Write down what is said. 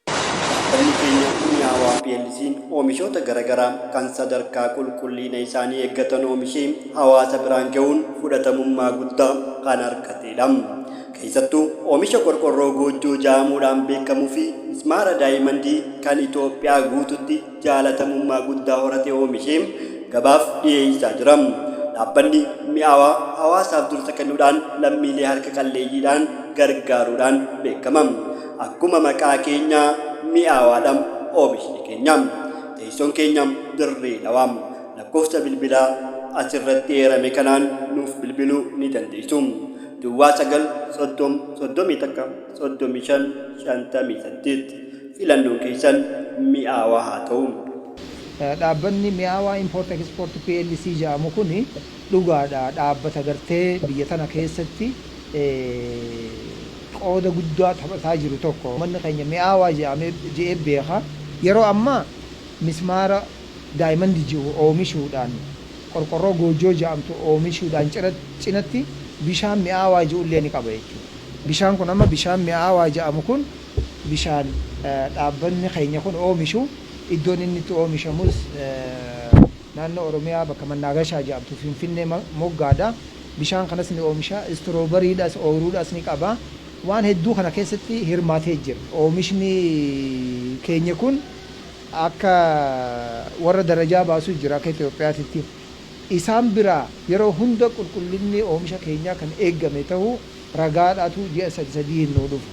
Dhaabbanni keenya Mi'aawaa plc oomishoota garagaraa kan sadarkaa qulqulliina isaanii eeggatan oomishee hawaasa biraan gahuun fudhatamummaa guddaa kan argateedha. Keessattuu oomisha qorqorroo goojjoo ja'amuudhaan beekamuufi mismaara daayimandii kan Itoophiyaa guututti jaalatamummaa guddaa horate oomishee gabaaf dhiyeessaa jira. Dhaabbanni Mi'aawaa hawaasaaf dursa kennuudhaan lammiilee harka qalleeyyiidhaan gargaaruudhaan beekama. Akkuma maqaa keenya mi'aawaadha oomishni keenya. Teessoon keenya Dirree Dhawaa. Lakkoofsa bilbilaa asirratti eerame kanaan nuuf bilbiluu ni dandeessu. Duwwaa 9 30 31 35 58. Filannoon keessan mi'aawaa haa ta'u! Dhaabbanni Mi'aawaa Import Export plc ja'amu kun Dhugaadha dhaabbata gartee biyya tana keessatti qooda guddaa taphataa jiru tokko ummanni keenya mi'aawaa je'ee beeka. Yeroo ammaa mismaara daayimandi je'u oomishuudhaan, qorqorroo goojjoo je'amtu oomishuudhaan cinatti bishaan mi'aawaa je'ullee ni qaba jechuudha. Bishaan kun amma bishaan mi'aawaa je'amu kun bishaan dhaabbanni keenya kun oomishu iddoon inni itti oomishamus. Naannoo Oromiyaa bakka Mannaagashaa jedhamtu Finfinnee moggaadha. Bishaan kanas ni oomisha. Istroobariidhas, ooyiruudhas ni qaba. Waan hedduu kana keessatti hirmaatee jira. Oomishni keenya kun akka warra darajaa baasu jira akka Itoophiyaatitti. Isaan biraa yeroo hunda qulqullinni oomisha keenyaa kan eegame ta'uu ragaadhaatu ji'a sadi sadiin nuu dhufa.